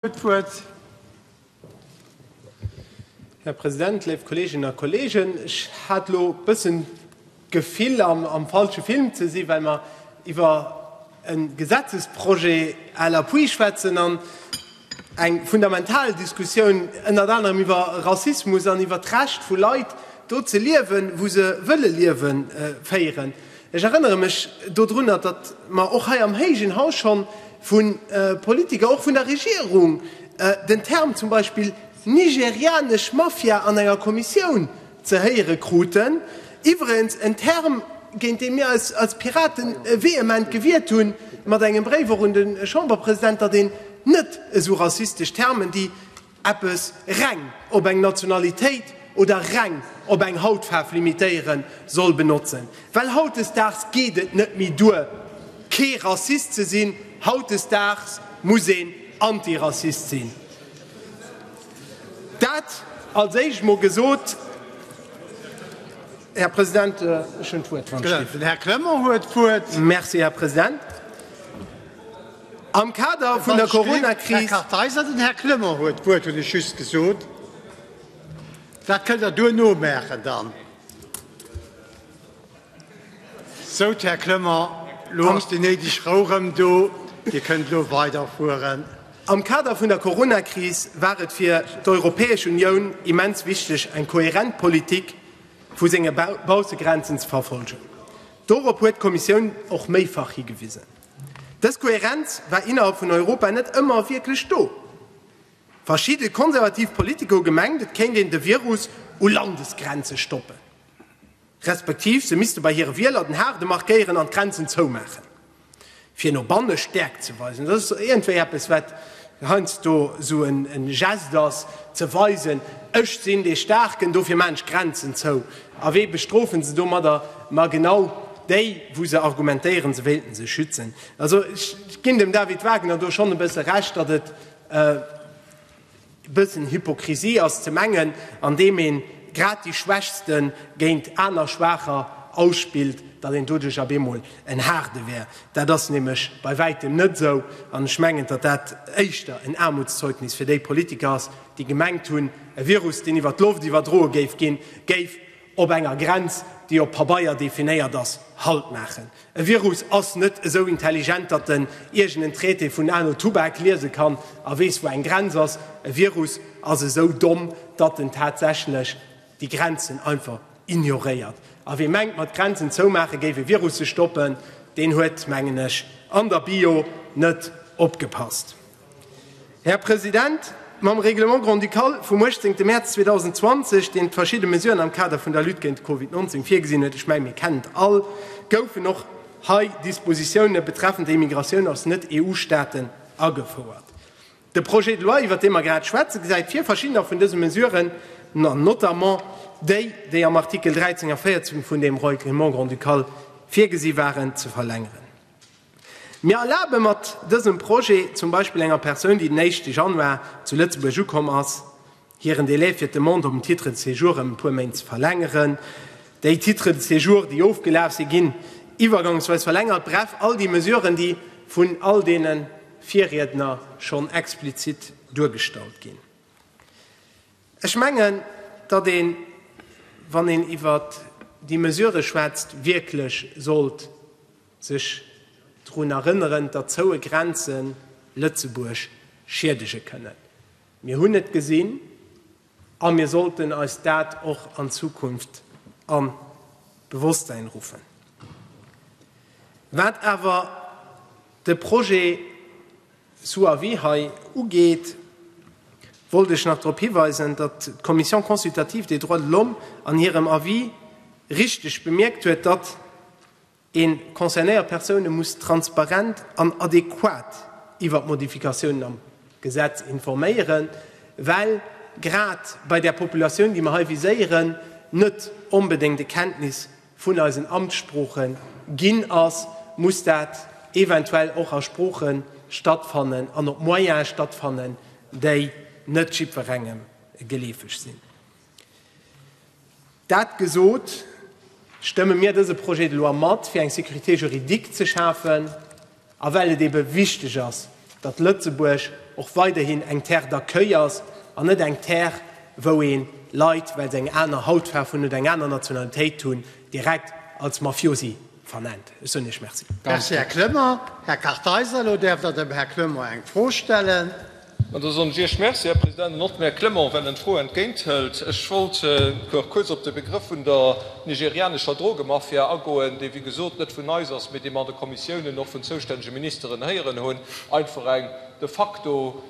d'Wuert. Här President, léif Kolleeginnen a Kolleegen, ech hat elo e bëssen d'Gefill, am, am falsche Film ze sinn, well mer iwwer e Gesetzesprojet à l'appui schwätzen an eng fundamental Diskussioun ënnert anerem iwwer Rassismus an iwwer d'Recht vu Leit, do ze liewen, wou se wëlle liewen, féieren. Ech erënnere mech dodrunner, datt mer och hei am héigen Haus scho vu Politiker, och vun der Regierung, den Term zum Beispill nigerianesch Mafia an enger Kommissioun ze héiere kruten, iwwerens en Term, géint dee mir eis als Piraten vehement gewiert hu mat engem Bréif och un de Chamberpresident, datt een net esou rassistesch Termen, déi, eppes reng op eng Nationalitéit oder reng op eng Hautfaarf limitéieren soll benotzen, well hautdesdaags geet et net méi duer kee Rassist ze sinn, hautdesdaags muss een Antirassist sinn. Dat als éischt emol gesot. Här President, ech hunn d'Wuert wann ech géif. Den Här Clement huet d'Wuert. Merci, Här President. Am Kader vun der Corona-Kris. Am Kader vun der Corona-Kris war et fir d'Europäesch Unioun immens wichteg, eng kohärent Politik vu senge Baussegrenzen ze verfolgen. Dorop huet d'Kommissioun och méifach higewisen. Dës Koherenz war innerhalb vun Europa net ëmmer wierklech do. Verschidde konservativ Politiker hu gemengt, et kéint een de Virus u Landesgrenze stoppen, respektiv se misste bei hire Wieler den Haarde markéieren an d'Grenzen zoumaachen, fir no banne Stäerkt ze weisen. Dat ass iergendwéi eppes, wat heiansdo esou e Gest ass, ze weisen, Ech sinn dee Staarken, dofir maachen ech d'Grenzen zou. A wee bestrofe se domadder? Ma genau déi, wou se argumentéieren, se wéilten sech schützen. Also ech ginn dem David Wagner do schonn e bësse Recht, datt et e bëssen Hypokrisie ass ze mengen, andeem ee grad déi Schwächste géint aner Schwaacher ausspillt, datt een doduerch op eemol en Haarde wär. Dat ass nämlech bei wäitem net esou. An ech mengen, datt dat éischter en Aarmutszeugnis fir déi Politiker ass, déi gemengt hunn, e Virus, deen iwwer d'Loft iwwerdroe géif ginn, géif op enger Grenz, déi op Pabeier definéiert ass, Halt maachen. E Virus ass net esou intelligent, datt en iergend en Traité vun Arno Tubac liese kann a weess, wou eng Grenz ass. E Virus ass esou domm, datt en tatsächlech déi Grenzen einfach ignoréiert. A wee mengt, mat Grenzen zoumaache géif ee Virusse stoppen, deen huet, mengen ech, an der Bio net opgepasst. Här President, mam Règlement grand-ducal vum 18 Mäerz 2020, deen verschidde Mesuren am Kader vun der Lutte géint de Covid 19 virgesinn huet, ech menge mir kennen et all, goufen och hei Dispositiounen betreffend d'Immigratioun aus Net-EU-Staaten agefouert. De Projet de loi, iwwert dee mer grad schwätzen, gesäit vir, verschiddener vun dëse Mesuren, notamment déi, déi am Artikel 13 a 14 vun deem Règlement grand-ducal virgesi waren, ze verlängeren. Mir erlabe mat dësem Projet zum Beispill enger Persoun, déi den éischte Januar zu Lëtzebuerg ukomm ass, Hiren Delai fir d'Demande op en Titre de séjour ëm e puer Méint ze verlängeren. Déi Titres de séjour, déi ofgelaf si, ginn iwwergangsweis verlängert. Bref, all déi Mesuren, déi vun all deene Virriedner schonn explizit duergestallt ginn. Ech mengen, datt een, wann een iwwer déi Mesurë schwätzt, wierklech sollt sech drun erënneren, datt zoue Grenze Lëtzebuerg schiedege kënnen. Mir hunn et gesinn a mir sollten eis dat och an Zukunft an d'Bewosstsein ruffen. Wat awer de Projet sous avis hei ugeet, wollt ech nach drop hiweisen, datt d'Commission consultative des droits de l'homme an hirem Avis richtig bemierkt huet, datt, Een concernéiert Persoune muss transparent an adequat iwwer d'Modifikatiounen am Gesetz informéieren, well grad bei där Populatioun, déi mer hei viséieren, net onbedéngt e Kenntnis vun eisen Amtssprooche ginn ass, muss dat eventuell och a Sprooche stattfannen an op Moyene stattfannen, déi net jiddwerengem geleefeg sinn. Dat gesot, stëmme mir dëse Projet de loi mat, fir eng Sécurité juridique ze schafen a well et eebe wichteg ass, datt Lëtzebuerg och weiderhin eng Terre d'accueil ass an net eng Terre, wou ee Leit, well se eng aner Hautfaarf hunn oder eng aner Nationalitéit hunn, direkt als Mafiosi vernennt. Ech soen Iech Merci. Merci, Här Clement. Här Kartheiser, elo däerft Der dem Här Clement eng Fro stellen. An da soen ech Iech Merci, Här President, an och dem Här Clement, well en d'Fro entgéinthëlt. Ech wollt nach kuerz op de Begrëff vun der nigerianescher Drogemafia agoen, dee wéi gesot net vun eis ass, mee dee mer an de Kommissiounen och vun zoustännege Ministeren héieren hunn. Einfach eng de facto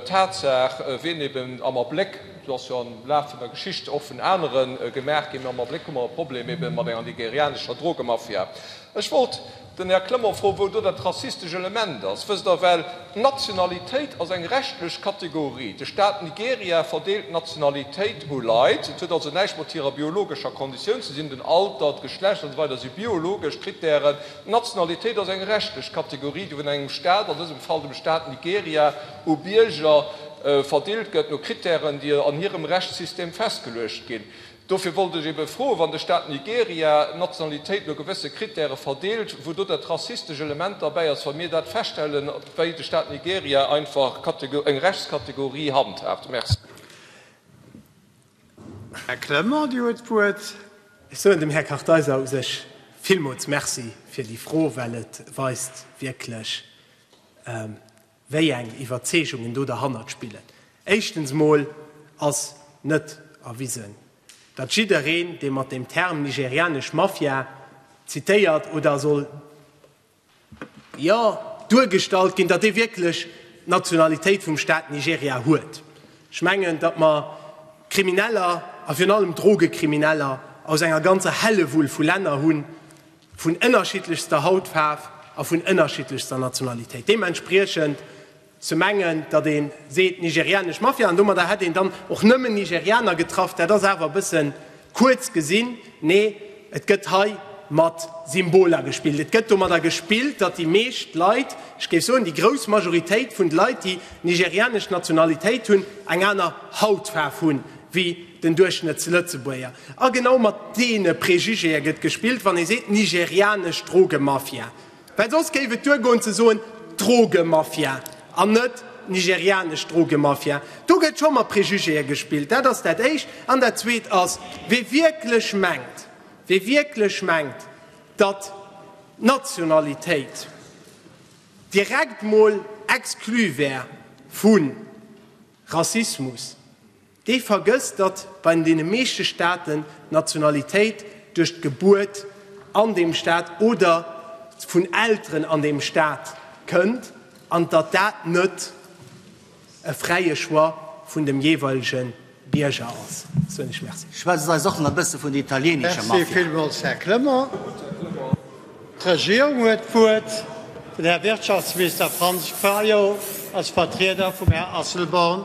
Tatsaach, wien eeben am Abléck, Do ass jo am Laf vun der Geschicht och vun anere gemaach ginn. Mee am Abléck hu mer e Problem ebe mat enger nigerianescher Drogemafia. Ech wollt den Här Clement froen, wou do dat rassistescht Element ass. Wësst Der, well d'Nationalitéit ass eng rechtlech Kategorie. De Staat Nigeria verdeelt d'Nationalitéit u Leit. Et huet also näischt mat hirer biologescher Konditioun ze sinn, den Alter, d'Geschlecht an esou weider si biologesch Kritären. D'Nationalitéit ass eng rechtlech Kategorie, déi vun engem Staat, an dësem Fall dem Staat Nigeria, u Bierger verdeelt gëtt no Kritären, déi an hirem Rechtssystem festgeluecht ginn. Dofir wollt ech ebe froen, wann de Staat Nigeria d'Nationalitéit no gewësse Kritäre verdeelt, wou do dat rassistesch Element derbäi ass, wa mir dat feststellen, wéi de Staat Nigeria einfach eng Rechtskategorie handhaabt. Merci. Här Clement, Dir huet d'Wuert. Ech soen dem Här Kartheiser u sech villmools Merci fir déi Fro, well et weist wierklech, wéi eng Iwwerzeegungen do derhannert spillen. Éischtens mol ass net erwisen, datt jiddereen, dee mat dem Term nigerianesch Mafia zitéiert oder soll, jo, duergestallt ginn, datt dee wierklech d'Nationalitéit vum Staat Nigeria huet. Ech mengen, datt mer Krimineller, a virun allem Drogekrimineller, aus enger ganzer Hällewull vu Länner hunn, vun ënnerschiddlechster Hautfaarf a vun ënnerschiddlechster Nationalitéit. Deementspriechend ze mengen, datt ee seet nigerianesch Mafia an domadder hätt een dann och nëmmen Nigerianer getraff, dat ass awer e bësse kuerz gesinn. Nee, et gëtt hei mat Symboler gespillt. Et gëtt domadder gespillt, datt déi meescht Leit, ech géif soen, déi grouss Majoritéit vun de Leit, déi nigerianesch Nationalitéit hunn, eng aner Hautfaarf hu wéi Den Duerchschnëttslëtzebuerger. A genau mat deene Prejugéë gëtt gespillt, wann ee seet, nigerianesch Drogemafia. Well soss géif et duergoen ze soen, Drogemafia an net nigerianesch Drogemafia. Do gëtt scho mat Prejugéë gespillt. Dat ass dat Éischt. An dat Zweet ass, Wie wierklech mengt, wie wierklech mengt, datt d'Nationalitéit direkt mol exclu wär vu Rassismus, Dee vergësst, datt bei deene meeschte Staaten d'Nationalitéit duerch d'Gebuert an deem Staat oder vun Elteren an deem Staat kënnt an datt dat net e fräie Choix vun dem jeeweilege Bierger ass. Schwätzt eis och nach e bësse vun der italieenescher Mafia. D'Regierung huet d'Wuert. Den Här Wirtschaftsminister Franz Fayot als Vertrieder vum Här Asselborn.